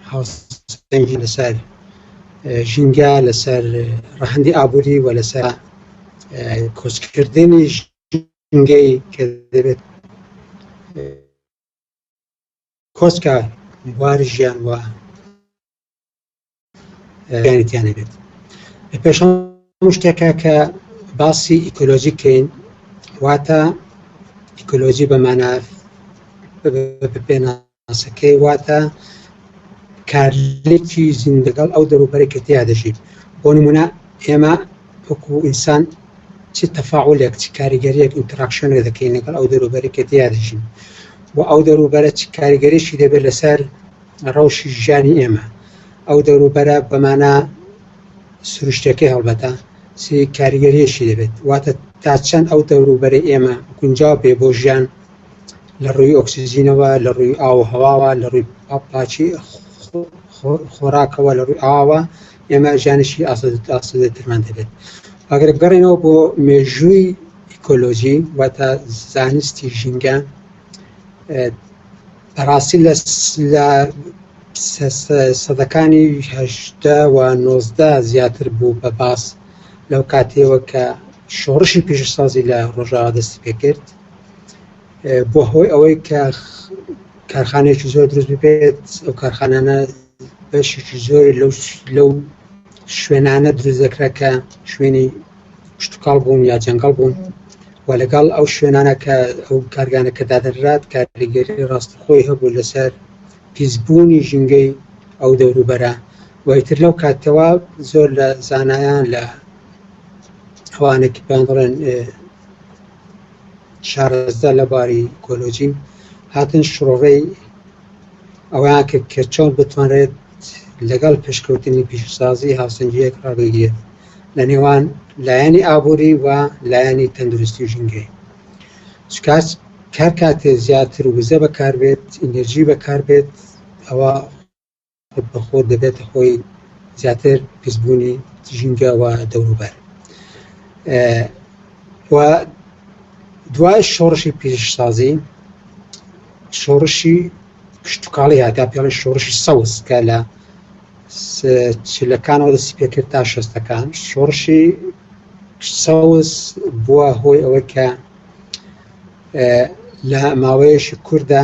هاوسەنگی لەسەر ژینگە لەسەر ڕەهندی ئابووری و لەسەر کۆچکردنی ژینگەی کە دەبێت کۆچکە بواری ژیان وە گارتیان نەبێت پێش شتێکە کە باسی ئیکۆلۆژی کەین واتە ئیکۆلۆژی بەمانە پێناسەکەی واتە کارلێکی زین لەگەڵ ئەو دەروبەرە کە تیا دەژیت بۆ نمونە ئێمە وەکو ئینسان چ تەفاعلێک چ کاریگەریەک ئینتراکشنێ دەکەین لەگەڵ ئەو دەروبەرە کە تیا دەژین و ئەو دەروبەرە چ کاریگەریشی دەبێت لەسەر ڕەوشی ژیانی ئێمە ئەو دەوروبەرە بە مانا سروشتیەکەی هەڵبەتە چی کاریگەریەکی دەبێت واتە تا چەند ئەو دەوروبەری ئێمە گونجاو بێ بۆ ژیان لە ڕووی ئۆکسسیجینەوە لە ڕووی ئاو هەواوە لە ڕووی پاچی خۆراکەوە لە ڕووی ئاوە ئێمە ژیانشی ئاسودەترمان دەبێت ئەگەر بگەڕێنەوە بۆ مێژووی ئیکۆلۆژی واتە زانستی ژینگە بەڕاستی لە لە سەدەکانی هەشدە و نۆزدە زیاتر بوو بە باس لەو کاتێەوە کە شۆڕشی پیشسازی لە ڕۆژاوا دەستی پێکرد بۆ هۆی ئەوەی کە کارخانێکی زۆر دروست بێت ئەو کارخانانە بەشێکی زۆر لەو شوێنانە دروست دەکرا کە شوێنی شتکاڵ بوون یا جەنگەڵ بوون و لەگەڵ ئەو شوێنانە کە ئەو کارگانە کە دادەنرات کاریگەری ڕاستی خۆی هەبوو لەسەر پیسبوونی ژینگەی ئەو دەوروبەرە وایتر لەو کاتەوە زۆر لە زانایان لە ئەوانێکی پێیان دەڵێن شارەزا لە باری کۆلۆژین هاتن شڕۆڕەی ئەوەیان کرد کە چۆن بتوانرێت لەگەڵ پێشکەوتنی پیشەسازی هاوسەنگیەک ڕابگیرێت لە نێوان لایەنی ئابووری و لایەنی تەندروستی و ژینگەی سکاس کار کاتێ زیاتر وزە بەکاربێت ئینەرژی بەکاربێت ئەوە بەخۆر دەبێتە خۆی زیاتر پیسبوونی ژینگە و دەوروبەر و دوای شۆڕشی پیشسازی شۆڕشی کشتتوکاڵی هاتا پێڵی شۆڕشی سەوز کە لە چلەکانەوە دەستی پێکرد تا شەستەکان شۆڕشی سەوز بووە هۆی ئەوەی کە لە ماوەیەشی کووردا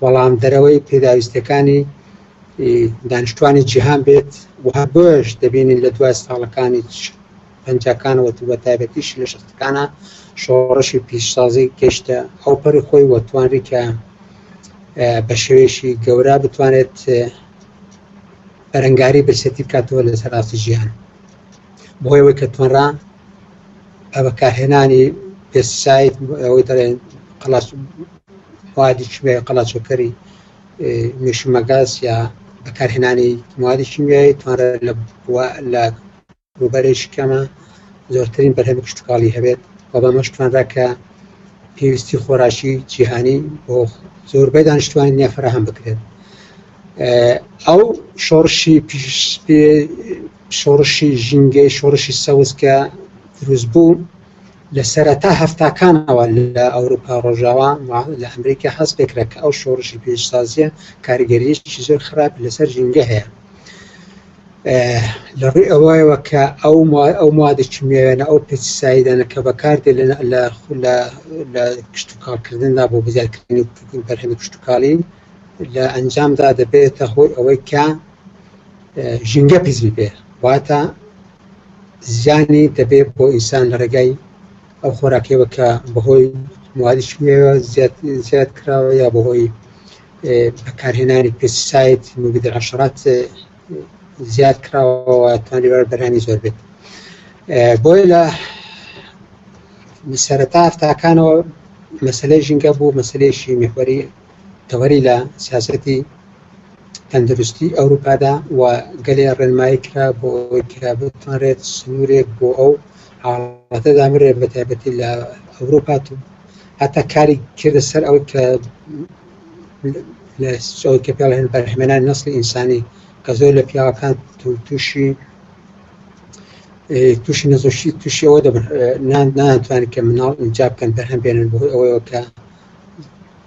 بەڵام دەرەوەی پێداویستەکانی دانیشتوانی جیهان بێت و هەر بۆش دەبینین لە دوای ساڵەکانی پەنجەکانەوە بە تایبەتیش لە شەستەکانە شۆڕشی پیشسازی گەشتە ئەو پەری خۆی وە توانری کە بە شێوێشی گەورە بتوانێت بەرەنگاری برسێتی بکاتەوە لە سەراستی ژیان بۆیەوەی کە توانرا بەکارهێنانی پێستساید ئەوەی دەڵێن قەڵاس موادی کیمیای قەڵاچۆکەری میشمەگاز یا بەکارهێنانی موادی کیمیایی توانرە لە لە ڕوبەرێکی کەمە زۆرترین بەرهەمی کشتتوکاڵی هەبێت و بەمەش توانرا کە پێویستی خۆراکی جیهانی بۆ زۆربەی دانیشتوانی نیە فراهەم بکرێت ئەو شۆڕشی شۆڕشی ژینگەی شۆڕشی سەوز کە دروست بوو لە سەرەتا هەفتاکانەوە لە ئەوروپا ڕۆژاوا لە ئەمریکا هەست پێکرا کە ئەو شۆڕشی پێشسازیە کاریگەریشی زۆر خراپ لەسەر ژینگە هەیە لە ڕووی ئەوەیەوە کە ئەو ئەو موادە چمیاوێنە ئەو پێسیسایدانە کە بەکاردێ لە لە کشتتوکاڵکردندا بۆ بزیاتکردنی بەرهەمی کشتتوکاڵی لە ئەنجامدا دەبێتە هۆی ئەوەی کە ژینگە پیس ببێ واتە زیانی دەبێ بۆ ئینسان لە ڕێگای ئەو خۆراکەوە کە بەهۆی موادی شوێوە زیاد کراوە یا بەهۆی بەکارهێنانی پێسیسایت مبیدە عشرات زیاد کراوە توانی بەر بەرانی زۆر بێت بۆی لە سەرەتا هەفتاکانەوە مەسلەی ژینگە بوو مەسلەیەشی میخوەری تەوەری لە سیاسەتی تەندروستی ئەوروپادا و گەلێ ڕێنمایی کرا بۆ ئەوەی کە بتوانرێت سنوورێک بۆ ئەو حاڵەتە دامرێت بە تایبەتی لە ئەوروپا هەتا کاری کردە سەر ئەو کە لە سۆی کە پێڵێن بەرهمێنان نسلی ئینسانی کە زۆر لە پیاوەکان تووشی تووشی نەزۆشی تووشیەوە دەبن نان ناتوانانی کە مناڵ ئینجا بکەن بەرهەم بێنن بۆ ئەوەیەوە کە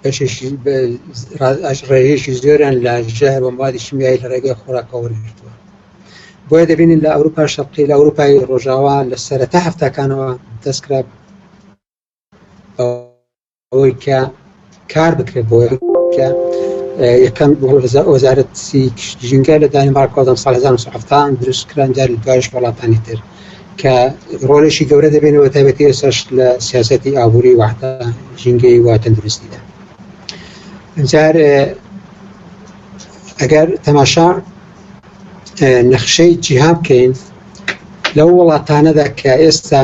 بەشێکی ڕێژەیەکی زۆریان لە ژەهر و موادی شیمیایی لە ڕێگەی خۆراکە وەرگرتووە بۆیە دەبینین لە ئەوروپا شەقی لە ئەوروپای ڕۆژاوا لە سەرەتا هەفتەکانەوە دەستکرا ئەوەی کە کار بکرێت بۆ کە یەکەم وەزارەتی ژینگە لە دانیمارکۆدەم سال 1970 دروستکران جاری دوایش وڵاتانی تر کە ڕۆلێکی گەورە دەبێنەوە بە تایبەتی ئێستاش لە سیاسەتی ئابووری وحتا ژینگەی و تەندروستیدا جار ئەگەر تەماشا نەخشەی جیهان بکەین لەو وڵاتانەدا کە ئێستا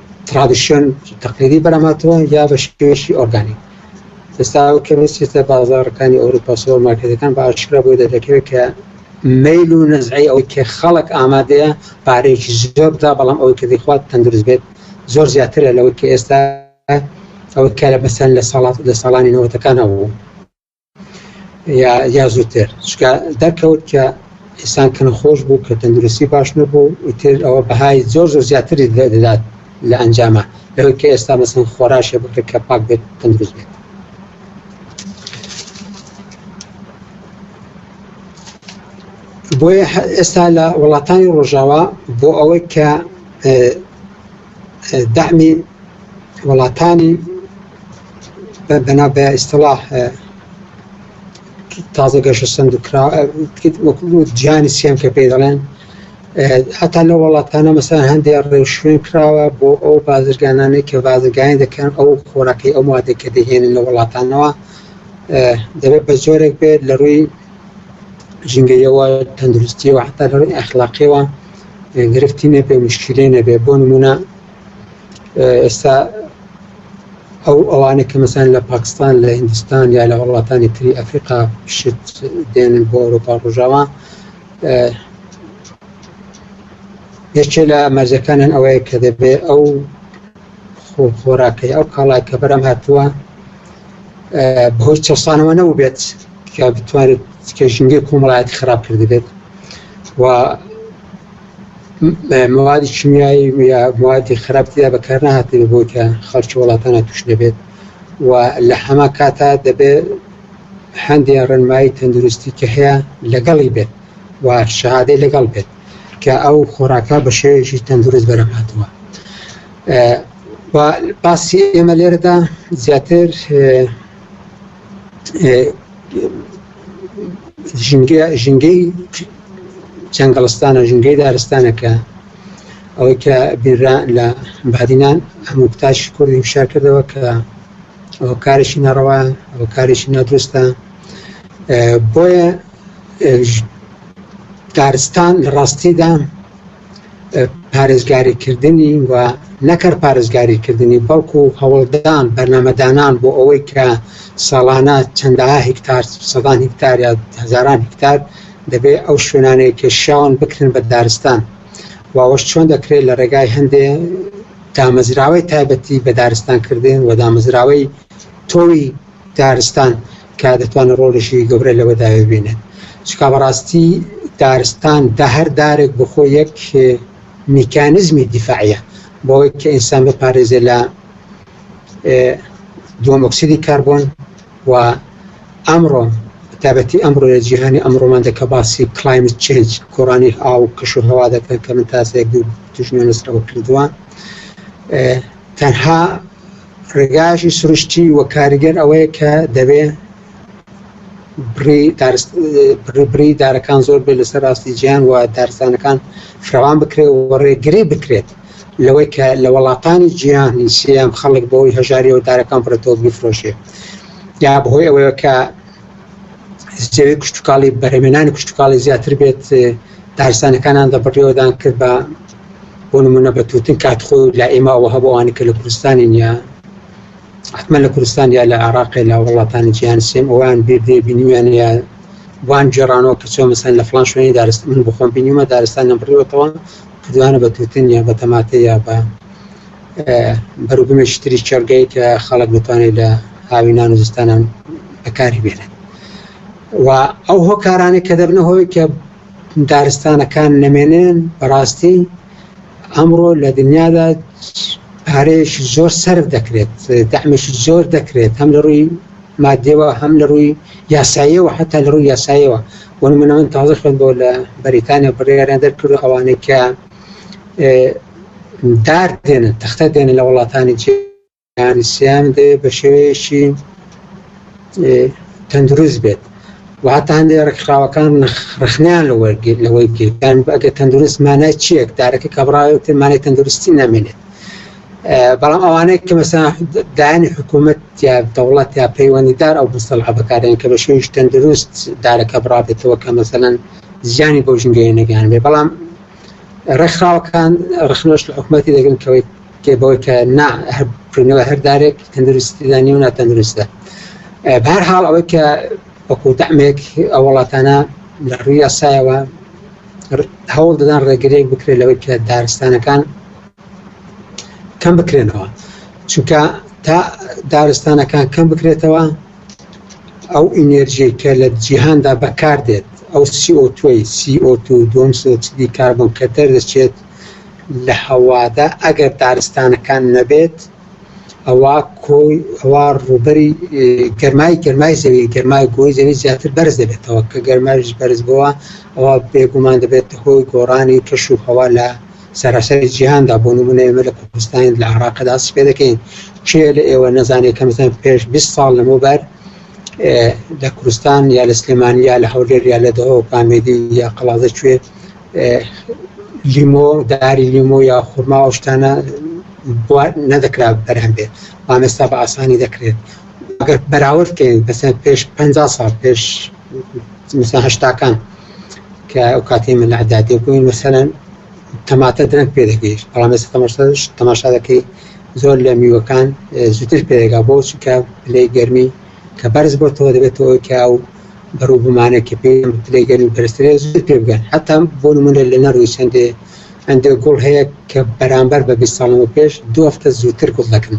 ترادیسیۆن تەقلیدی بەراماتەوە یا بە شێوەیەکی ئۆرگانیک ئێستا کە بچێتە بازارەکانی ئەوروپا سۆر مارکێتەکان بە ئاشکرا بۆی دەردەکەوێت کە میل و نزعی ئەوەی کە خەڵک ئامادەیە پارێکی زۆر بدا بەڵام ئەوەی کە دەخوات تەندروست بێت زۆر زیاترە لەوەی کە ئێستا ئەوەی کە لە بەسەن لە ساڵات لە ساڵانی نەوەتەکانە بوو یا یا زووتر چکە دەرکەوت کە ئیسان کە نەخۆش بوو کە تەندروستی باش نەبوو ئیتر ئەوە بەهای زۆر زۆر زیاتری دەدات لە ئەنجامە لەوەی کە ئێستا مەسن خۆراشێ بکرێت کە پاک بێت تەندروست بێت بۆیە ئێستا لە وڵاتانی ڕۆژاوا بۆ ئەوەی کە دەعمی وڵاتانی بەناو بە ئیسلاح تازە گەشە سند و کرا وەکو جیانی سێم کە پێ دەڵێن هەتا لە وڵاتانە مەسەن هەندێک ڕێوشوێن کراوە بۆ ئەو بازرگانانەی کە بازرگانی دەکەن ئەو خۆراکەی ئەو مادەی کە دەهێنن لە وڵاتانەوە دەبێت بە زۆرێک بێت لە ڕووی ژینگەیەوە تەندروستیەوە حتا لە ڕووی ئەخلاقیەوە گرفتی نەبێ مشکلی نەبێ بۆ نمونە ئێستا ئەو ئەوانە کە مەسان لە پاکستان لە هندستان یا لە وڵاتانی تری ئەفریقا شت دێنن بۆ ئەوروپا ڕژاوە یەکێ لە مەرجەکانیان ئەوەیە کە دەبێ ئەو خۆراکەی ئەو کاڵای کە بەرەم هاتووە بەهۆی چەسانەوە نەبووبێت کە بتوانێت کێژنگی کۆمەڵایەتی خراپ کردبێت و موادی شیمیایی یا موادی خراپتیدا بەکار نهاتێ بۆی کە خەڵکی وڵاتانە توش نەبێت و لە هەما کاتا دەبێت هەندێک ڕێنمایی تەندروستی کە هەیە لەگەڵی بێت و شهادەی لەگەڵ بێت کە ئەو خۆراکە بە شێوەیەکی تەندروست بەرەباتەوە و باسی ئێمە لێرەدا زیاتر ژینگەی جەنگەڵستانە ژینگەی دارستانەکە ئەوەی کە بیررا لە بادینان هەموو کتاش کوردی فشار کردەوە کە ئەو کارێکی نەڕەوە ئەو کارێکی نادروستە بۆیە دارستان لە ڕاستیدا پارێزگاریکردنی و نەکەر پارێزگاریکردنی بەڵکو هەوڵدان بەرنمەدانان بۆ ئەوەی کە ساڵانە چەندە هکتار سەدان هکتار یا هزاران هکتار دەبێ ئەو شوێنانەیە کێشاون بکرن بە دارستان واوەش چۆن دەکرێت لە ڕێگای هەندێ دامەزراوەی تایبەتی بە دارستانکردن و دامەزراوەی تۆوی دارستان کە دەتوانێت ڕۆڵیشی گەورە لەوەدا ببینێت چکا بەڕاستی دارستان دە هەر دارێک بخۆ یەک میکانزمی دیفاعە بۆەوەی کە ئینسان بپارێزێ لە دوم ئۆکسیدی کاربۆن و ئەمڕۆ تابەتی ئەمڕۆ لە جیهانی ئەمڕۆمان دەکە باسی کلایمت چنج کۆرانی ئاو کەش و هەوا دەکەن کە من تاسێک دوو تژنە نسرەوە کردووە تەنها ڕێگایەکی سروشتی و کاریگەر ئەوەیە کە دەبێ بڕی دارەکان زۆر بێت لەسەر ڕاستی جیان و دارستانەکان فراوان بکرێت و ڕێگری بکرێت لەوەی کە لە وڵاتانی جیهانی سیام خەڵک بۆی هەژاری و دارەکان فرەتۆ بفرۆشێت یا بەهۆی ئەوەیە کە زیێوی کوشتتوکاڵی بەرەمێنانی کوشتتوکاڵی زیاتر بێت دارستانەکانان دەبڕیەوەدان کرد بە بۆ نمونە بە توتن کات خۆ لا ئێمە ئەوە هەبوو ئەوانی کە لە کوردستانین یا حتمما لە کوردستان یا لە عراق لا وڵاتانی جیان سێم ئەوان بێبێ بینیویان یا وان جێرانەوە کە چۆن مەسەن لە فلان شوێنی دارست من بخۆم بینیمە دارستان لەم بڕیوەتەوە کردوانە بە توتن یا بە تەماتە یا بە بەروبمێکی تری چێرگەی کە خەڵک بتوانێت لە هاوینان و زستانان بەکاری بێنن و ئەو هۆکارانێک کە دەبنە هۆی کە دارستانەکان نەمێنن بەڕاستی ئەمڕۆ لە دنیادا پارەیەکی زۆر سرف دەکرێت دامێکی زۆر دەکرێت هەم لە ڕووی مادەوە هەم لە ڕووی یاساییەوە حتا لە ڕووی یاساییەوە بۆ منەوەن تازە خوێن بۆ لە بەریتانیا بڕیاریان دەرکرد ئەوانەی کە دار دێنن تەختە دێنن لە وڵاتانی چێ کاریسیان دەوێ بە شێوەیەکی تەندروست بێت و هەتا هەندێک ڕێکخراوەکان ڕخنیان لە وەرگیر لەوەی گیرکان ئەگە تەندروست مانای چیەک دارەکە کە بڕاوێت مانای تەندروستی نامێنێت بەڵام ئەوانەیە کە مەسا دایانی حکوومەت یا دەوڵەت یا پەیوەندیدار ئەو بستەڵ عبەکارێن کە بە شێویش تەندروست دارەکە بڕابێتەوە کە مەسەەن زیانی بۆ ژنگەیە نەگەیان بێ بەڵام ڕێکخراوەکان ڕخنۆش لە حکوومەتی دەگرن کەوەی تێ بەوەی کە نا کردنەوە هەر دارێک تەندروستیدا نیە و ناتەندروستە بەر حاڵ ئەوەی کە وەکو دامێک ئە وڵاتانە لە ڕووی یاسایەوە هەوڵ دەدان ڕێگرێک بکرێت لەوەی کە دارستانەکان کەم بکرێنەوە چونکە تا دارستانەکان کەم بکرێتەوە ئەو ئینێرژی کە لە جیهاندا بەکار دێت ئەو سیۆتۆی سیۆتو دوم سۆچدی کاربن کە دەردەچێت لە هەوادا ئەگەر دارستانەکان نەبێت ئەوا کۆی ئەوا ڕووبەری گەرمای گەرمای زەوی گەرمای گۆی زەوی زیاتر بەرز دەبێتەوە کە گەرمایش بەرز بووە ئەوە بێگومان دەبێت هۆی گۆڕانی کەش و هەوا لە سەراسەری جیهاندا بۆ نمونە ئێمە لە کوردستان لە عراقدا سپێ دەکەین کێ لە ئێوە نەزانێت کەمزان پێش 20 ساڵ لەمە بەر لە کوردستان یا لە سلێمانیا لە هەولێر یا لە دەەوە پامێدی یا قەڵازە کوێ لیمۆ داری لیمۆ یا خورما و شتانە نەدەکرا بەرهەم بێت ئامێستا بە ئاسانی دەکرێت ئەگەر بەراورد بکەین بەسە پێش 50 سال پێش هشتاکان کە ئەو کاتی من لەعدادێ بووین مەسەرەن تەماتە درەنگ پێ دەگەیشت بەڵام ێستا تەماشاش تەماشا دەکەی زۆر لە میوەکان زوتر پێگا بۆ چکە لەی گەرمی کە بەرز بۆتەوە دەبێتەوە کە ئەو بەرو بمانە کە پێ پلەی گەرمی بەرزترە زوو پێ بگەن حتا بۆ نمونە لە نەروی چەندێ ئەندێ گوڵ هەیە کە بەرامبەر بە بیست ساڵەوە پێش دوو هەفتە زووتر گوڵ دەکەن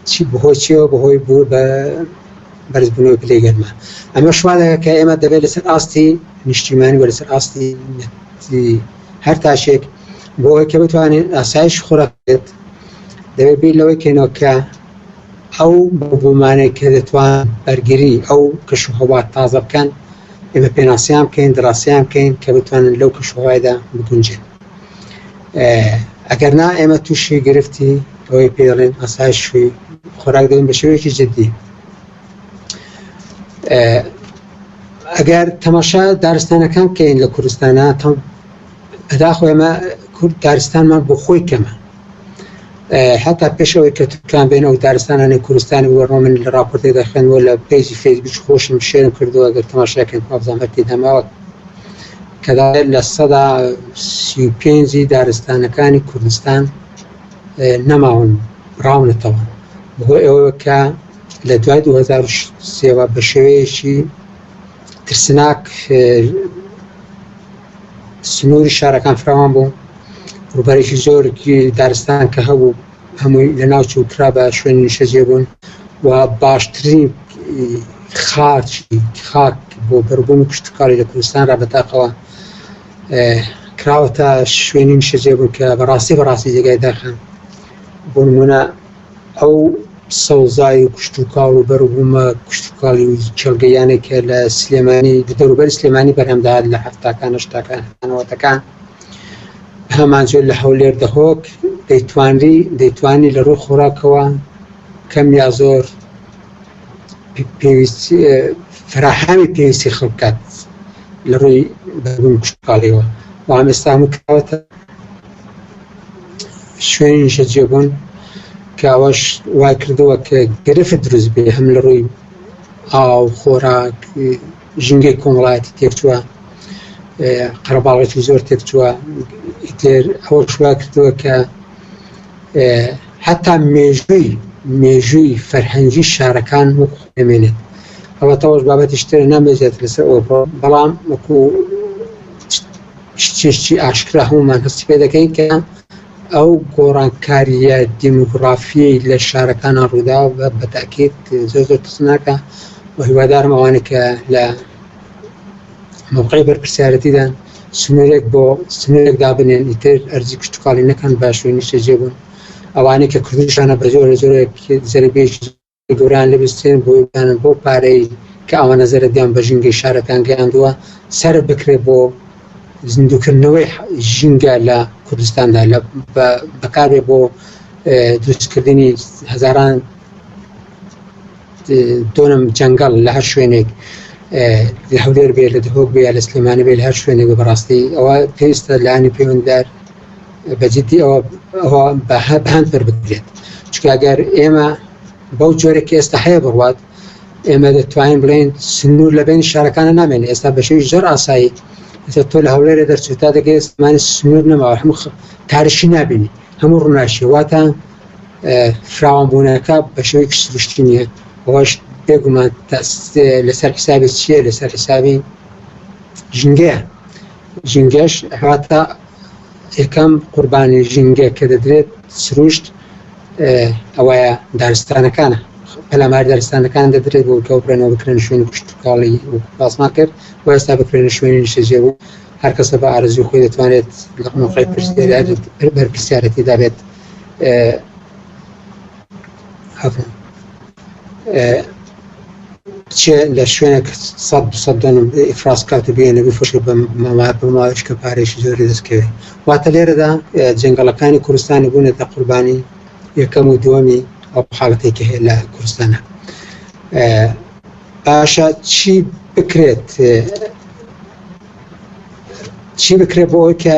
چی بەهۆی چیەوە بەهۆی بوو بە بەرزبوونەوەی پلەی گەرما ئەمە شوا دەکە کە ئێمە دەبێت لەسەر ئاستی نیشتیمانی و لەسەر ئاستی هەر تاشێک بۆ ئەوەی کە بتوانێت ئاسایش خۆراک بێت دەبێت بیر لەوەی کەینەوە کە ئەو بۆمانەی کە دەتوان بەرگری ئەو کەش و هەوا تازە بکەن، ئێمە پێناسەیان بکەین، دراستەیان بکەین کە بتوانن لەو کەش و هەوایدا بگونجێن. ئەگەر نا ئێمە تووشی گرفتی ئەوەی پێ دەڵێن ئاسایش شووی خۆراک دەبین بە شێوەیەکی جددی. ئەگەر تەماشا دارستانەکان بکەین لە کوردستانە تەم بەداخەوە ئێمە کورد دارستانمان بۆ خۆی کەمە. هەتا پێش ئەوەی کە تورکان بێن ئەو دارستانانی کوردستانی وەڕۆ من لە راپۆرتێکدا خوێنەوە لە پێیجی فەیسبوک خۆشم شێرم کردووە گەر تەماشاکەن پابزان هەرتی دەماوە کەدا لە سەدا سی و پێنجی دارستانەکانی کوردستان نەماون ڕاونەتەوە بۆ ئەوە کە لە دوای 2023 بە شێوەیەکی ترسناک سنووری شارەکان فراوان بوو، ڕووبەرێکی زۆر دارستان کە هەبوو هەمووی لە ناو چوو کرا بە شوێنی نیشەجێ بوون و باشترین خاچ خاک بۆ بەربوون کشتکاری لە کوردستان را بەتاقەوە کراوەتە شوێنی نیشەجێ بوون کە بەڕاستی بەڕاستی جێگای داخان بۆ نمونە ئەو سەوزای و کشتوکاڵ و بەروبوومە کشتوکاڵی و کێڵگەییانەی کە لە سلێمانی لە دەوروبەری سلێمانی بەرهەم دەهات لە حەفتاکان هەشتاکان هەتا نەوەتەکان هەمانجۆر لە هەولێر دهۆک دەیتوانری دەیتوانی لە ڕووی خۆراکەوە کەم یا زۆر پێویست فراهامی پێویستی خەڵک بکات لە ڕووی بەربوومی کشتوکاڵیەوە و ئەم ئێستا هەموو کراوەتە شوێنی نیشەجێبوون پیاوەش وای کردووە کە گرفت دروست بێ هەم لە ڕووی ئاو خۆراک ژینگەی کۆمەڵایەتی تێکچووە قەرەباڵێکی زۆر تێکچووە ئیتر ئەوە شوا کردووە کە حتا مێژووی مێژووی فەرهەنگی شارەکان و خوێمێنێت ئەوە تەوەش بابەتی شتێ نامێزێت لەسەر ئەوە بەڵام وەکو شتێکی ئاشکرا هەموومان هەستی پێ دەکەین کە ئەو گۆڕانکاریە دیموگرافیەی لە شارەکانە ڕووداوە بە بەتاکیت زۆر زۆر ترسناکە و هیوادارم ئەوانێک کە لە موقعی بەرپسیارەتیدان سنوورێک بۆ سنوورێک دابنێن ئیتر ئەرزی کشتتوکڵی نەکەن باشوی نیشتەجێ بوون ئەوانەی کە کوردشانە بە زۆر زۆرێک زەربێکی گوران لویسترین بویگانن بەو پارەی کە ئەوانە زەرەدیان بە ژینگەی شارەکان گەیاندووە سەرف بکرێت بۆ زیندوکردنەوەی ژینگە لە کوردستاندا لە بەکارێ بۆ دروستکردنی هەزاران دۆنم جەنگەڵ لە هەر شوێنێک لە هەولێر بێ لە دهۆک بێ لە سلێمانی بێ هەر شوێنێک بەڕاستی ئەوە پێویستە لانی پەیوەنددار بە جدی ئەوە ئەوە بە هە- بە هەند پربدرێت چونکە ئەگەر ئێمە بەو جۆرە کە ئێستا هەیە بڕوات ئێمە دەتوانین بڵێن سنوور لە بین شارەکانە نامێنێ ئێستا بە شێوی زۆر ئاسایی ئێستا تۆ لە هەولێرە دەرچوو تا دەگەی ئێستمانی سنوور نەماوە هەموو خ- تارشی نابینی هەموو ڕووناشی واتە اه، فراوانبوونەکە بە شێوەیەکی سروشتی نییە ئەوەش بێگومان تاس- لەسەر حسابی چییە لەسەر حسابی ژینگەیە ژینگەش هاتە یەکەم قوربانی ژینگە کە دەدرێت سروشت ئەوەیە دارستانەکانە پەلامار دارستانەکان دەدرێت بۆ کەو بکەنەوە بکرێن شوێنی کوشتتوکاڵی باسمان کرد و ئێستا بکرێنە شوێنی نیشتەجێ بوو هەر کەسە بە ئارزوی خۆی دەتوانێت لە موقعی بەرپرسیارەتی دابێت هەفن. بچێ لە شوێنێک سەد دوسە دۆن ئیفراز کات و بێنە بفرشێ بە مەوار بە ماوەش کە پارێکی زۆری دەستکەوێت واتە لێرەدا جنگەڵەکانی کوردستانی بوونێتە قوربانی یەکەم و دووەمی ئەو حاڵەتێکی هەیە لە کوردستانە باشە چی بکرێت چی بکرێت بۆ ئەوەی کە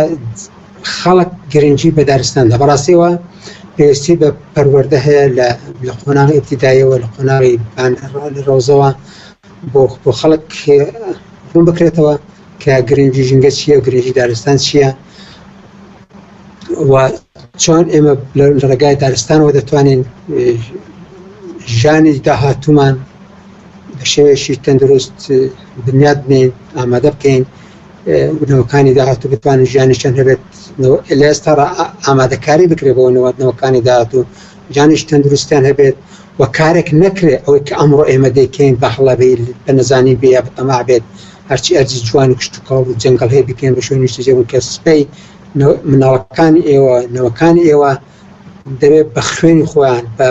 خەڵک گرنگی بە دارستاندا بەڕاستیەوە پێویستی بە پەروەەردە هەیە لە لە قۆناغی ابتدایەوە لە قۆناغی ڕۆزەوە بۆ بۆ خەڵک بوون بکرێتەوە کە گرنگی ژینگە چییە گرنگی دارستان چییە و چۆن ئێمە لە ڕێگای دارستانەوە دەتوانین ژانی داهاتومان بە شێوەیەکی تەندروست بنیات بنێین ئامادە بکەین بنەوەکانی داهات و بتوانن ژیانی چەند هەبێت لە ئێستا ئامادەکاری بکرێت بۆ نەوەتنەوەکانی داهات و جانیش تەندروستیان هەبێت و کارێک نەکرێت ئەوەی کە ئەمڕۆ ئێمە دەکەین بە هەڵەبی بە نەزانین بێ یا بەتەما بێت هەرچی ئەرزی جوان و کشتتوکاڵ و جنگل هەیە بکەین بە شوێنیشتە جێبوو کە سپەی مناڵەکانی ئێوە نەوەکانی ئێوە دەبێت بە خوێنی خۆیان بە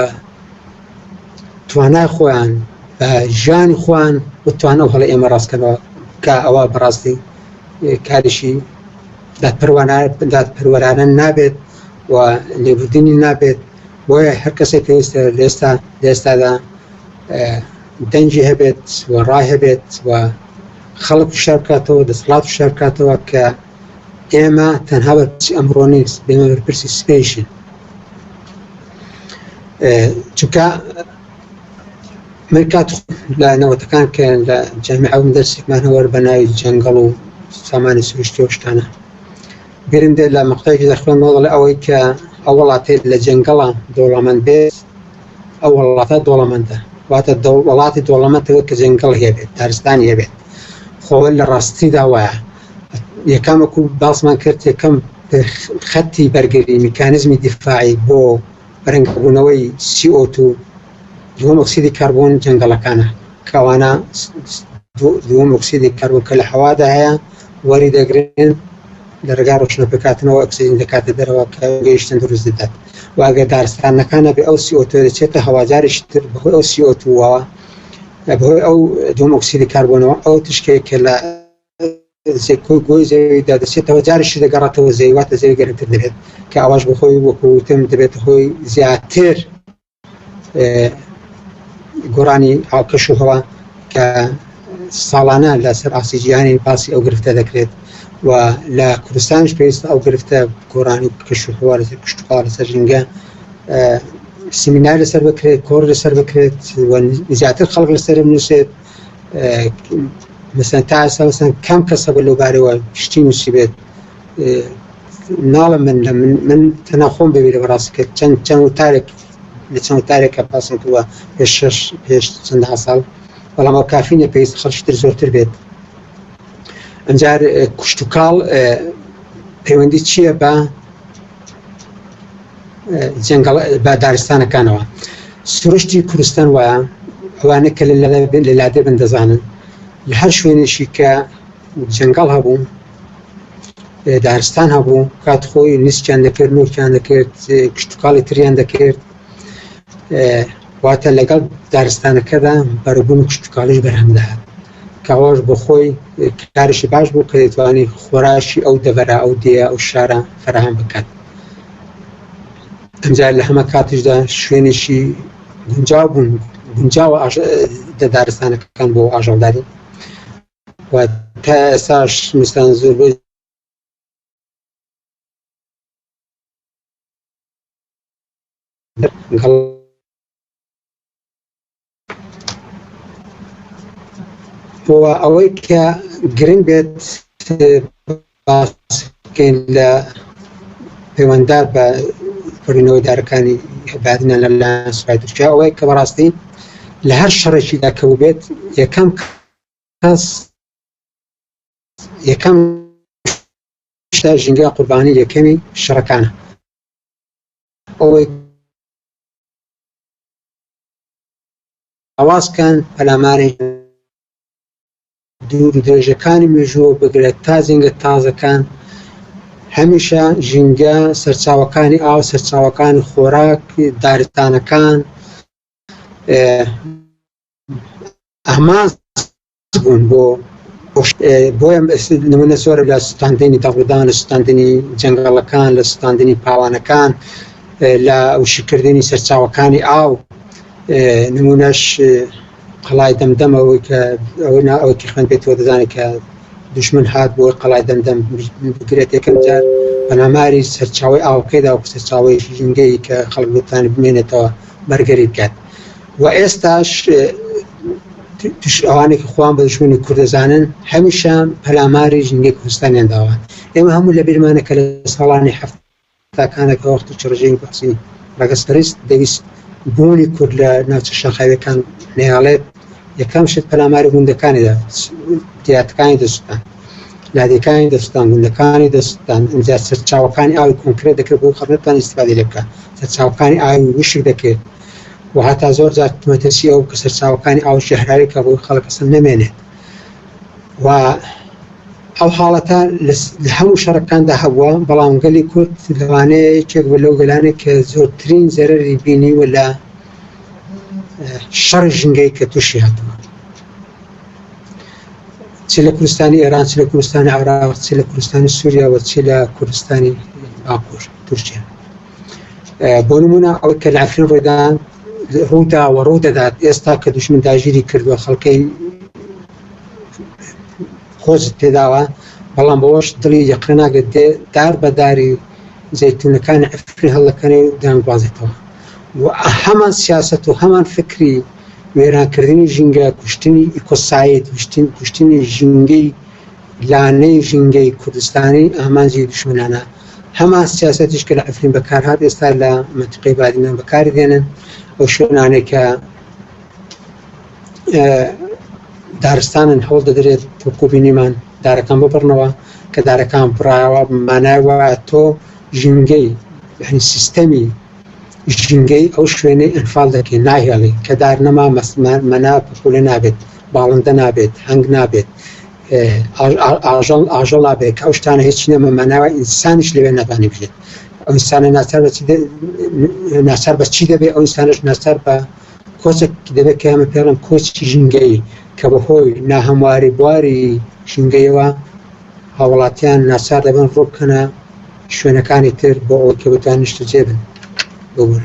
توانای خۆیان بە ژیانی خۆیان بتوانە و هەڵە ئێمە ڕاستکەەوە کە ئەوە بەڕاستی کاریشی دادپەروەرانە نابێت و لێبوردنی نابێت بۆیە هەر کەسێک پێویستە لێستا لێستادا دەنجی هەبێت و ڕای هەبێت و خەڵک شارکاتەوە دەسڵات شارکاتەوە کە ئێمە تەنها بەرپرسی ئەمڕۆ نیست ئێمە بەرپرسی سپیشن چونکە من کات لە نەوەتەکان کە لە جامی ئەوم دەرسێکمان هەوەر بە ناوی جەنگەڵ و سامانی سروشتی شتانە گرم دێت لە مەقتەکی دەخۆن وەڵ ئەوەی کە ئەو وڵاتێ لە جەنگەڵە دەوڵەمەند بێت ئەو وڵاتە دۆڵەمەندە واتە وڵاتی دۆڵەمەتەوە کە جەنگەڵ هەبێت دارستان هەبێت خۆ لە ڕاستیدا وایە یەکەم وەکو باسمان کرد یەکەم خەتی بەرگری میکانزمی دیفاعی بۆ بەرەنگبوونەوەی CO2 دووەم ئۆکسیدی کاربۆن جەنگەڵەکانە کەوانە دووەم ئۆکسیدی کاربۆن کە لە هەوادا هەیە وەری دەگرن لە ڕێگا ڕۆشنە پێکاتنەوە ئۆکسسیجین دەکاتە دەرەوە کە گەیشتن دروست دەدات واگە دارستانەکانە بێ ئەو CO2 دەچێتە هەواجاریش تر بەهۆی ئەو CO2ەوە بەهۆی ئەو دووەم ئۆکسیدی کاربۆنەوە ئەو تشکێک کە لە گۆی زەویدا دەچێتەوە جاریش دەگەڕێتەوە زەوی واتە زەوی گەرمتر دەبێت کە ئاواش بخۆی وەکوتم دەبێت هۆی زیاتر گۆرانی ئاوکەش و هەوا کە ساڵانە لەسەر ئاسی جیهانی باسی ئەو گرفتە دەکرێت و لە کوردستانش پێویست ئەو گرفتە گۆرانی کەش و هەوا لەسەر کشتتوخوا لەسەر ژینگە سیمینار لەسەر بکرێت کۆر لەسەر بکرێت زیاتر خەڵک لەسەر نووسێت مثلەن تا ئێستا مثلەن کەم کەسە بە لەوبارەوە شتی نووسی بێت ناڵم من لە من من تەنا خۆم بەوی لە بەڕاستی کە چەند چەند وتارێک لە چەند وتارێکە پاسم کردوە پێ شش پێش چەند ساڵ بەڵام ئەو کافی نە پێویست خەڵشتر زۆرتر بێت ئەجار کوشت و کاڵ پەیوەندی چییە بە جەنگەڵ بە دارستانەکانەوە سروشتی کوردستان وایە ئەوانە کە لە لادێ بن دەزانن لە هەر شوێنێکی کە جەنگەڵ هەبوو دارستان هەبوو کات خۆی نیسکیان دەکرد نورکیان دەکرد کشتتوکڵی تریان دەکرد واتە لەگەڵ دارستانەکەدا بەرەبوون کشتتوکڵیش بەرهەمداهات کاواش بۆ خۆی کارشی باش بوو کە دەتوانی خۆراشی ئەو دەڤەرە ئەو دێ ئەو شارە فراهەم بکات ئەجا لە هەمە کاتیشدا شوێنیشی گونجاو بوون گونجاوە دەدارستانەکەکان بۆ ئاژەڵداری و تا ئێساش مستان زۆر بۆی گەڵ بۆ ئەوەی کە گرنگ بێت باسکەین لە پەیوەندار بە کردنەوەی دارەکانی بادنە لە لایەن سوپای تورکیا ئەوەی کە بەڕاستی لە هەر شەڕێکیدا کە بێت یەکەم کەس یەکەم شتا ژینگە قوربانی یەکەمی شەڕەکانە ئەوەی ئاوازکان پەلامارێک دوور و درێژەکانی مێژووە بگرە تا جەنگە تازەکان هەمیشە ژینگە سەرچاوەکانی ئاو سەرچاوەکانی خۆراک دارستانەکان ئەماس بوون بۆ بۆیە نمونە زۆرە لە سوتاندنی دەڵدان لە سوتاندنی جەنگەڵەکان لە سوتاندنی پاوانەکان لە وشکردنی سەرچاوەکانی ئاو نمونەش قەڵای دەمدەمەوەی کە ئەوە نا ئەو تیخان پێێتەوە دەزانێت کە دشمن هات بۆ قەڵای دەمدەم بگرێت یەکەم جار بەناماری سەرچاوی ئاوکەیدا و سەرچاوی ژینگەی کە خەڵک لەتانی بمێنێتەوە بەرگەری بکات و ئێستاش دژ ئەوانەی کە خۆیان بە دوژمنی کورد دەزانن، هەمیشە پەلاماری ژینگەی کوردستانیان داوە. ئێمە هەموو لە بیرمانە کە لە ساڵانی حەفتاکانە کە وەختی چ ڕژێمی بەعسی ڕەگەزپەرست دەویست بوونی کورد لە ناوچە شاخاوییەکان نەیاڵێت، یەکەم شت پەلاماری گوندەکانی دا، دیاتەکانی دەسووتان، لادێکانی دەسووتان، گوندەکانی دەسووتان، ئینجا سەرچاوەکانی ئاوی کۆنکرێت دەکرد بۆ ئەوەی خەڵک نەتوانێت ئیستیفادەی لێ بکات، سەرچاوەکانی ئاوی وشک دەکرد، و هەتا زۆر جار مەترسی ئەوە کە سەرچاوەکانی ئاو ژەهراوی کە ڕووی خەڵک ئەسڵ نەمێنێت و ئەو حاڵەتە لە هەموو شەڕەکاندا هەبووە بەڵام گەلی کورد لەوانەیە یەکێک بە لەو گەلانێک کە زۆرترین زەرری بینی و لە شەڕی ژنگەی کە تووشی هاتووە چ لە کوردستانی ئێران چ لە کوردستانی عراق چ لە کوردستانی سووریا و چ لە کوردستانی باکوور تورکیا بۆ نمونە ئەوەی کە لە عفرین ڕوویدان ڕوودا و ڕوو دەدات ئێستا کە دوشمن داگیری کردووە خەڵکەی خۆش پێداوە بەڵام بەوەش دڵی یەقە ناگەت دێ دار بەداری زەتونەکانی عفری هەڵەکەنێ و دانگوازێتەوە و هەمان سیاست و هەمان فکری وێرانکردنی ژینگە کوشتنی ئیکۆسایت کوشتن کوشتنی ژینگەی لانەی ژینگەی کوردستانی ئامانجی دشمنانە هەمان سیاسەتیش کە لە عفرین بەکارهات ئێستا لە مەنتقەی بادینان بەکاری دێنن ئەو شوێنانەی کە دارستانن هەوڵ دەدرێت تۆکۆبینیمان دارەکان ببڕنەوە کە دارەکان بڕایەوە مانای وایە تۆ ژینگەی یعنی سیستەمی ژینگەی ئەو شوێنەی ئەنفال دەکەی ناهێڵی کە دار نەما مەسمان مەنا پخولە نابێت باڵندە نابێت هەنگ نابێت ئاژەڵ ئاژەڵ نابێت کە ئەو شتانە هیچ نەمە ماناوە ئینسانیش لەوێ ناتوانانی بژێت ئەو ئینسانە ناچار بە ناچار بە چی دەبێت ئەو ئینسانش ناچار بە کۆچێک دەبێت کە ئەمە پێڵم کۆچی ژینگەی کە بەهۆی ناهەمواری بواری ژینگەیەوە هاوڵاتیان ناچار دەبن ڕووبکەنە شوێنەکانی تر بۆ ئەوەی کە بتوان نیشتە جێبن ببوون.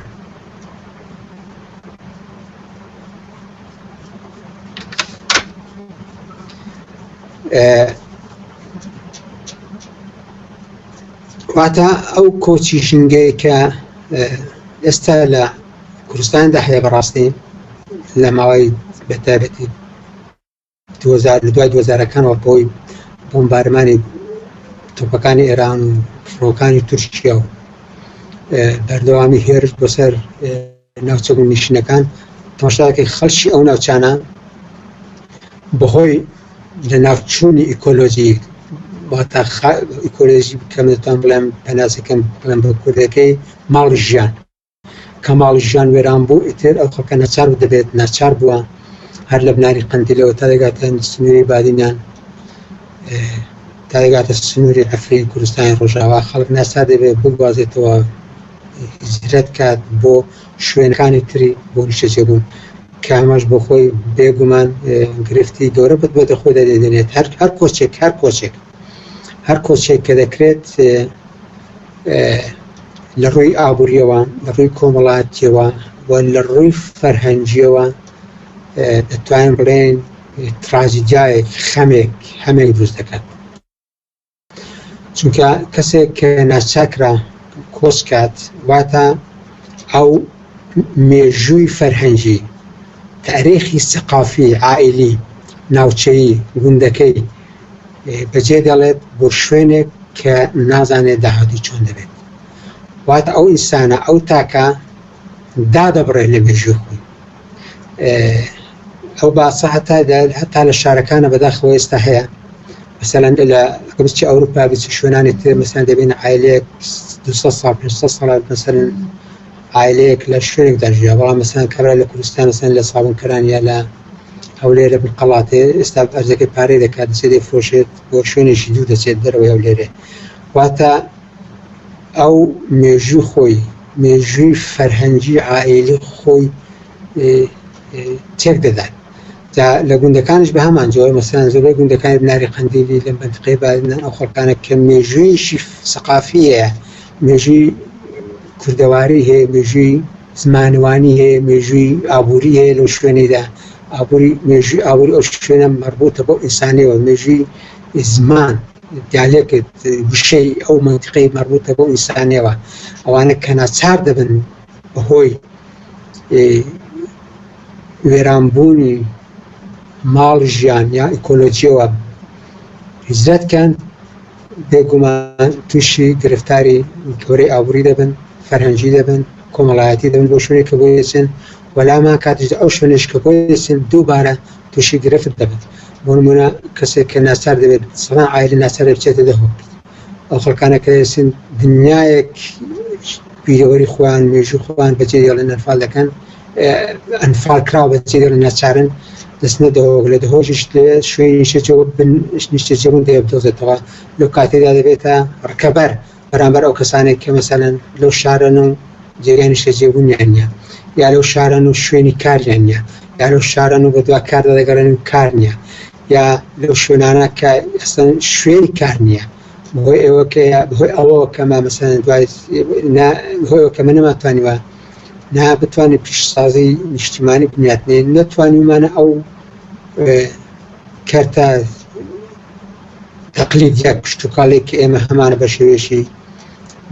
واتە ئەو کۆچی ژنگەیە کە ئێستا لە کوردستاندا هەیە بەڕاستی لە ماوەی بەتابەتی دووزار لە دوای دووزارەکانەوە بەوەی بۆمبارمانی تۆپەکانی ئێران و فڕۆکانی تورکیا و بەردەوامی هێرش بۆ سەر ناوچە و نیشتنەکان تۆشاکە خەڵکی ئەو ناوچانە بەهۆی لە ناوچوونی ئیکۆلۆژی واتا ئیکۆلۆژی بکەمتان بڵێم پەناسەکەم بڵێم بە کوردەکەی ماڵ ژیان کەماڵی ژیان وێران بوو ئیتر ئەو خەکە نەچار بوو دەبێت ناچار بووە هەر لە بناری قندیلەوە تا دەگاتە سنووری بادینان تا دەگاتە سنووری ئەفرین کوردستانی ڕۆژاوا خەڵک ناچار دەبێت بگوازێتەوە هجرەت کات بۆ شوێنەکانی تری بۆ نیشەجێبوون کامەش بۆ خۆی بێگومان گرفتی گەورە بەت بۆتە خۆی دەدێنێت هەر هەر کۆچێک هەر کۆچێک هەر کۆچێک کە دەکرێت لە ڕووی ئابوووریەوە لە ڕووی کۆمەڵاتیەوە و لە ڕووی فەرهەنگیەوە دەتوانین بڵێن تراجیدایەک خەمێک هەمێک دروست دەکات چونکە کەسێک کە ناچاکرا کۆچ کات واتە ئەو مێژووی فەرهەنگی تاریخی سەقافی عائلی ناوچەیی گوندەکەی بەجێ دەڵێت بۆ شوێنێک کە نازانێت داهاتووی چۆن دەبێت واتە ئەو ئینسانە ئەو تاکە دادەبڕێت لە مێژووی خۆی ئەو باسە هەتا هەتا لە شارەکانە بەداخەوە ئێستا هەیە مثلەن لە گرچی ئەوروپا بچ شوێنانی تر مەسان دەبێن عیلەیەک 200 سال 500 سال مەسەن عیلەیەک لە شوێنێکدا ژیا بەڵام مەسان کەرا لە کوردستان سن لە ساڵنکەران یا لە هەولێرە بنقەڵاتێ ئێستا ئەرزەکەی پارەی دەکات دەچێت دەیفرۆشێت بۆ شوێنێکی دوور دەچێت دەرەوەی هەولێرێ واتە ئەو مێژووی خۆی مێژووی فەرهەنگی عائیلی خۆی تێک دەدات جا لە گوندەکانش بە هەمان جۆر مەسەن زۆربەی گوندەکانی بناری قەندیلی لە بەندقەی بادنان ئەو خەڵکانە کە مێژوویشی سەقافیە مێژووی کوردەواری هەیە مێژووی زمانوانی هەیە، مێژووی ئابووری هەیە لەو شوێنەیدا، ئابووری مێژووی ئابووری ئەو شوێنە مەربووتە بەو ئینسانەوە، مێژووی زمان دیالێکت وشەی ئەو مەنتقەی مەربووتە بەو ئینسانەوە، ئەوانە کە ناچار دەبن بەهۆی وێرانبوونی ماڵ ژیان یا ئیکۆلۆژیەوە هجرەت کەن بێگومان تووشی گرفتاری تۆرەی ئابووری دەبن، فەرهەنگی دەبن، کۆمەڵایەتی دەبن بۆ شوێنێک کە بۆی دەچن و لامان کاتیشدا ئەو شوێنەش کە بۆی دەچن دووبارە تووشی گرفت دەبن. بۆ نموونە کەسێک کە ناچار دەبێت سەدان عایلە ناچار دەبێت بچێتە دهۆک، ئەو خەڵکانە کە دەچن دنیایەک بیرەوەری خۆیان و مێژووی خۆیان بەجێ دێڵن، ئەنفال دەکەن، ئەنفال کراوە بەجێ دێڵن، ناچارن دەچنە دهۆک، لە دهۆکیش لەوێ شوێنی نیشتەجێ و بن نیشتەجێبوون دەوێ بدۆزێتەوە، لەو کاتەدا دەبێتە ڕکەبەر بەرامبەر ئەو کەسانەی کە مەسەلەن لەو شارەن و جێگای نیشتەجێبوونیان نییە، یا لەو شارەن و شوێنی کاریان نییە، یا لەو شارەن و بەدوا کاردا دەگەڕێن و کار نییە، یا لەو شوێنانە کە ئەسڵەن شوێنی کار نییە. بەهۆی ئەوە کە بەهۆی ئەوە کە مامەسان دوای هۆیەوە کەمە نەماتوانیوە نا بتوانین پیشسازی نیشتیمانی بنیاتنێ نەتوانیمانە ئەو کەرتە تەقلید یا پشتتوکڵێک کە ئێمە هەمانە بە شێوێشی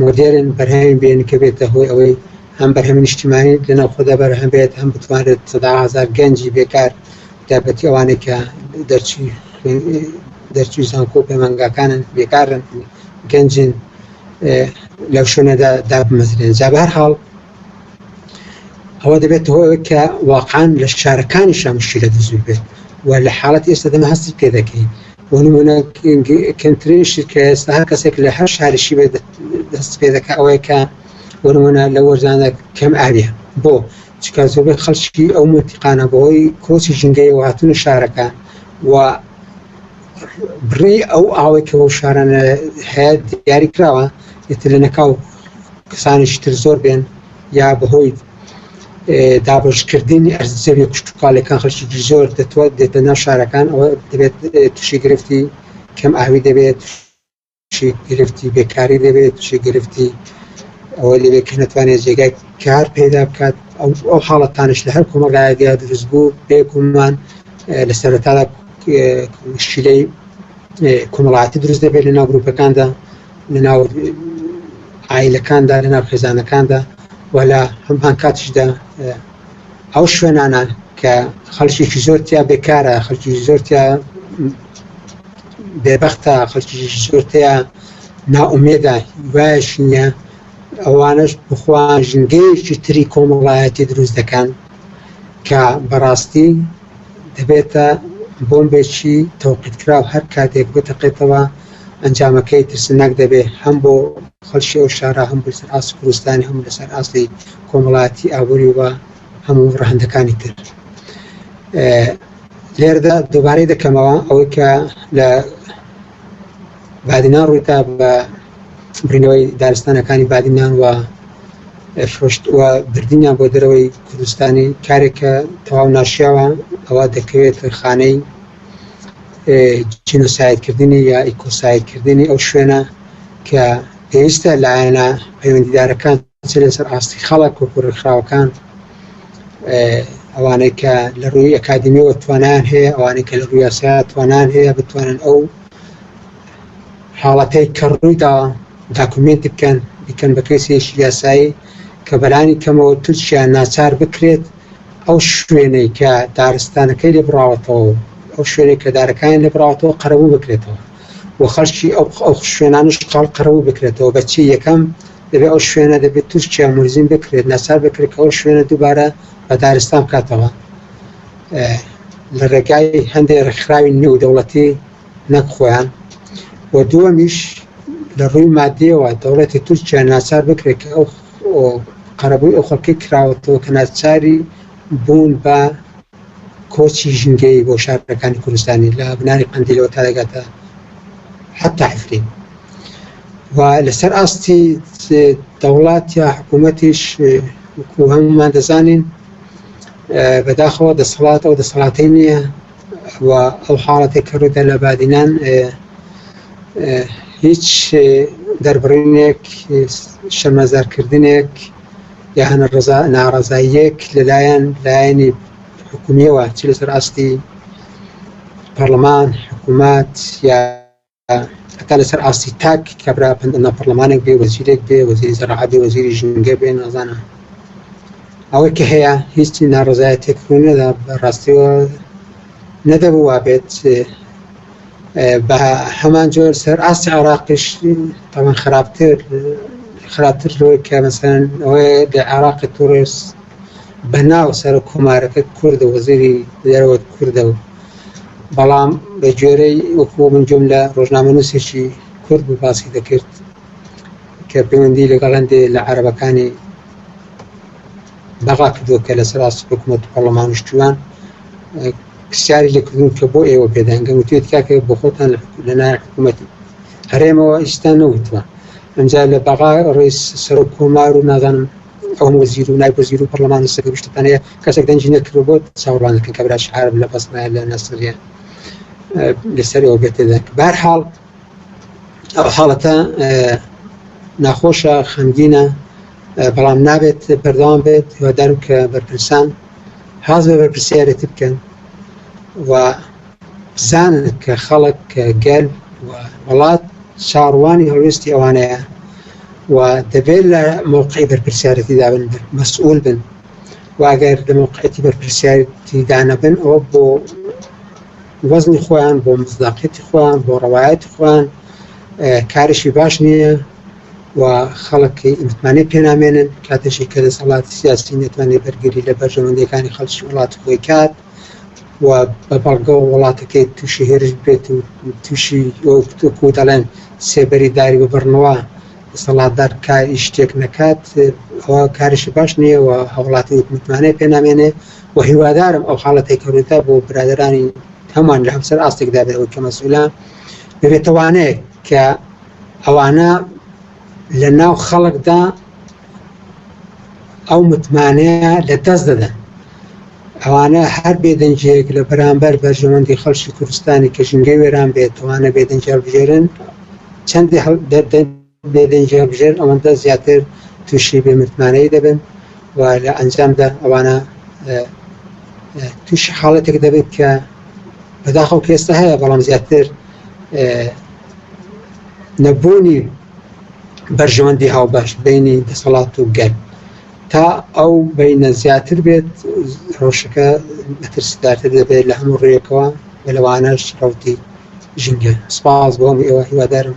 مۆدێرن بەرهەمی بێن کە بێتە هۆی ئەوەی هەم بەرهەمی نیشتیمانی لەناو خۆدا بەرهەم بێت هەم بتوانێت سەدا هزار گەنجی بێکار تایبەتی ئەوانەی کە دەرچووی زانکۆ و پەیمانگاکانن بێکارن گەنجن لەو شوێنەدا دابمەزرێن جا بەهر حاڵ ئەوە دەبێت هۆ کە واقعان لە شارەکانی شامشیرە دەزوو بێت و لە حاڵەت ئێستا دەمە هەستی پێ دەکەین وەنمونە کەمترین شتکە ئێستا هەر کەسێک لە هەر شارشی بێت دەست پێ دەکە ئەوەیە کە وەرمونە لە وەرزانە کەم ئاویە بۆ چونکە زۆربەی خەڵکی ئەو مەنتیقانە بەهۆی کۆچی ژینگەیەوە هاتوونە شارەکە و بڕی ئەو ئاوەی کە بەو شارانە هەیە دیاری کراوە ئێتر لە نەکاو کەسانیش تر زۆر بێن یا بەهۆی دابشکردنی ئەرز زەوی کوشتتوکالەکان خەڵکی زۆر دەتوات دێتە ناو شارەکان ئەوە دەبێت تووشی گرفتی کەم ئاوی دەبێت چی گرفتی بێکاری دەبێت چی گرفتی ئەوە لەوێ کە نەتوانێت جێگای کار پێدا بکات ئەو ئەو حاڵەتانش لە هەر کۆمەڵایەتیا دروست بوو بێگومان لە سەرەتادا مشکلەی کۆمەڵاتی دروست دەبێت لە ناو گروپەکاندا لە ناو ئایلەکاندا لە ناو خێزانەکاندا و لە هەمان کاتیشدا ئەو شوێنانە کە خەڵکیێکی زۆرتیا بێکارە خەڵکی زۆرتیا بێ بەختە خەڵکیش زۆر تیا ناومێدە هیوایش نییە ئەوانش بخوان ژنگەیەکی تری کۆمەڵایەتی دروست دەکەن کە بەڕاستی دەبێتە بۆمبێکی تەوقیتکراو هەر کاتێک بتەقێتەوە ئەنجامەکەی ترسناک دەبێت هەم بۆ خەڵکی ئەو شارە هەم بەسەر ئاست کوردستانی هەم لەسەر ئاستی کۆمەڵایەتی ئابووری و هەموو ڕەهەندەکانی تر لێرەدا دووبارەی دەکەمەوە ئەوەی کە لە بادینان ڕوویتا بە برینەوەی دارستانەکانی بادینان و فرۆشت و بردنیان بۆ دەرەوەی کوردستانی کارێکە تەواو ناشیاوە ئەوە دەکەوێت خانەی جینۆسایدکردنی یا ئیکۆسایدکردنی ئەو شوێنە کە پێویستە لایەنە پەیوەندیدارەکان چ لەسەر ئاستی خەڵک وەکو ڕێکخراوەکان ئەوانەی کە لە ڕووی ئەکادمیەوە توانان هەیە ئەوانەی کە لە ڕوو یاسا توانان هەیە بتوانن ئەو حاڵەتەی کە ڕوویدا داکومنت بکەن بکەن بە کەسێکی یاسایی کە بەرانی کەمەوە تورکیا ناچار بکرێت ئەو شوێنەی کە دارستانەکەی لێ بڕاوەتەوە ئەو شوێنێک کە دارەکانی لێ بڕاوەتەوە قەرەبوو بکرێتەوە و خەڵکی ئەو شوێنانش قەڵ قەرەبوو بکرێتەوە بەچی یەکەم دەبێت ئەو شوێنە دەبێت تورکیا مولزم بکرێت ناچار بکرێت کە ئەو شوێنە دووبارە بە دارستان بکاتەوە لە ڕێگای هەندێک ڕێکخراوی نێودەوڵەتی نەک خۆیان و دووەمیش لە ڕووی مادیەوە دەوڵەتی تورکیا ناچار بکرێت کە ئەو قەرەبووی ئەو خەڵکی کراوەتەوە کە ناچاری بوون بە کۆچی ژینگەیی بۆ شارەکانی کوردستانی لە بناری قەندیلەوە تا دەگاتە حتا عفرین و لەسەر ئاستی دەوڵات یا حکوومەتیش وکو هەمومان دەزانین بەداخەوە دەسەڵات ئەو دەسەڵاتی نییە و ئەو حاڵەتی کەڕوودا لە بادینان هیچ دەربڕینێک شەمەزارکردنێک یان ڕەزا ناڕەزاییەک لەلایەن لایەنی حکومیەوە چ لەسەر ئاستی پەرلەمان حکوومەت یا هەتا لەسەر ئاستی تاک کابرا پندنا پەرلەمانێک بێ وەزیرێک بێ وەزیری زەراعات بێ وەزیری ژینگە بێ نازانە ئەوەی کە هەیە هیچی ناڕزایەتێک ڕوونەدا بە ڕاستیەوە نەدەبوو وابێت بە هەمان جۆر سەر ئاستی عێراقیش تەمان خراپتر خراپتر لەوەی کە مەسەن ئەوەیە لە عێراقی تورێس بە ناو سەر و کۆمارەکە کوردە وەزیری دەرەوەت کوردە و بەڵام بە گوێرەی وەکو من جۆم لە ڕۆژنامە نووسێکی کورد بوو باسی دەکرد کە پەیوەندی لەگەڵ هەندێ لە عەرەبەکانی داوا کردووە کە لەسەر ئاستی حکومەت و پەڕڵەمان و شتوان پرسیاری لێ کردوون کە بۆ ئێوە پێدانگەن وتێت کاکە بۆ خۆتان لەلایەن حکوومەتی هەرێمەوە ئیستا نەوتوە ئەمجا لە بەغا ڕێز سەرۆک کۆمار و نازانم ئەوم وەزیر و نای وەزیر و پەرلەمان و سەگە شتتانەیە کەسێک دەنجی نەکردوە بۆ چاوەڕوانەکەن کە براش عرب لە بەسنای لە نەسریە لەسەر ئەوە بێتێدەک بارحاڵ ئەو حاڵەتە ناخۆشە خەمگینە بەڵام نابێت پەردەوام بێت هیوادارم کە بەرپرسان حاز بە بەرپرسیارێتی بکەن و بزانن کە خەڵک کە گەل وڵات چاڕوانی هەڵوێستی ئەوانەیە و دەبێت لە موقعی بەرپرسیارەتی دابن مەسئول بن واگەر لە موقعەتی بەرپرسیارەتی دانەبن ئەوە بۆ وەزنی خۆیان بۆ مصداقیەتی خۆیان بۆ ڕەوایەتی خۆیان کارشی باش نییە و خەڵکی متمانەی پێنامێنن کاتێکی کە دەسەڵاتی سیاسی نێتوانێ بەرگری لە بەرژەوەندەکانی خەڵکی وڵات خۆی کات و بە بەڵگە و وڵاتەکەی تووشی هێرش بێت و تووشی وەکو دەڵێن سێبەری داری ببڕنەوە دەسەڵاتدار کاری شتێک نەکات ئەوە کاریشی باش نییە و هەوڵاتی متمانەی پێنامێنێ وە هیوادارم ئەو حاڵە تێکەونەتە بۆ برادەرانی هەمان لە هەمسەر ئاستێکدا بێەوە کە مەسئولان ببێتەوانەیە کە ئەوانە لە ناو خەڵکدا ئەو متمانەیە لە دەست دەدەن ئەوانە هەر بێدەنجەیەک لە بەرامبەر بەرژەوەندی خەڵکی کوردستانی کە ژنگە وێران بێت توانە بێدەنجال بژێرن چەندی هەڵ دەدەن بێ دەنگی هەڵبژێرن ئەوەندە زیاتر تووشی بێ متمانەیی دەبن و لە ئەنجامدا ئەوانە تووشی حاڵەتێک دەبن کە بەداخەو کە ئێستا هەیە بەڵام زیاتر نەبوونی بەرژەوەندی هاوبەش بینی دەسەڵات و گەل تا ئەو بینە زیاتر بێت ڕۆشەکە مەترسدارتر دەبێت لە هەموو ڕێیەکەوە بە لەوانەش ڕوتی ژینگە سپاس بۆم ئێوە هیوادارم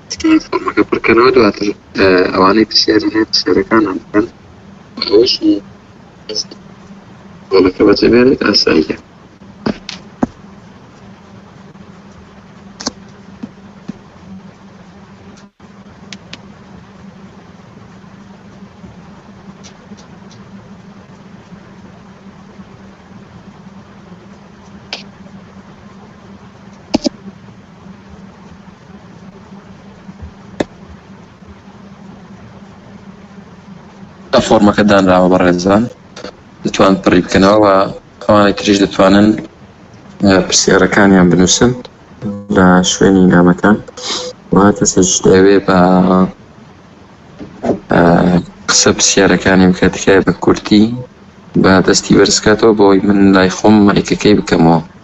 تکایە فۆرمەکە پڕکەنەوە دواتر ئەوانەی پرسیاری هەیە پرسیارەکانیان بکەن ئەوەشی گۆڵەکە بەجێبێنێت ئاساییە فۆرمەکە دانراوە بە ڕێزان دەتوان پڕی بکەنەوە و ئەوانە تریش دەتوانن پرسیارەکانیان بنووسن لە شوێنی نامەکان و کەسش دەوێ بە قسە پرسیارەکانی بکە تکای بە کورتی بە دەستی بەرزکاتەوە بۆی من لای خۆم مەیکەکەی بکەمەوە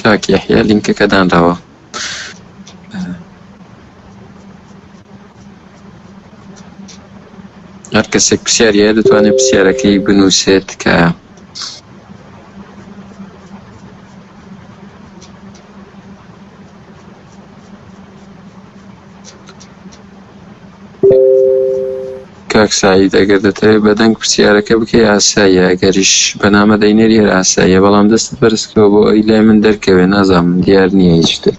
کاک یحیە لینکەکە دانراوە هەر کەسێک پرسیاریە دەتوانێت پرسیارەکەی بنووسێت کە کاک سعید ئەگەر دەتەوێت بە دەنگ پرسیارەکە بکەی ئاساییە ئەگەریش بەنامە دەینێری هەر ئاساییە بەڵام دەستت بەرزکەوە بۆ ئەوی لای من دەرکەوێ نازام دیار نییە هیچ شتێک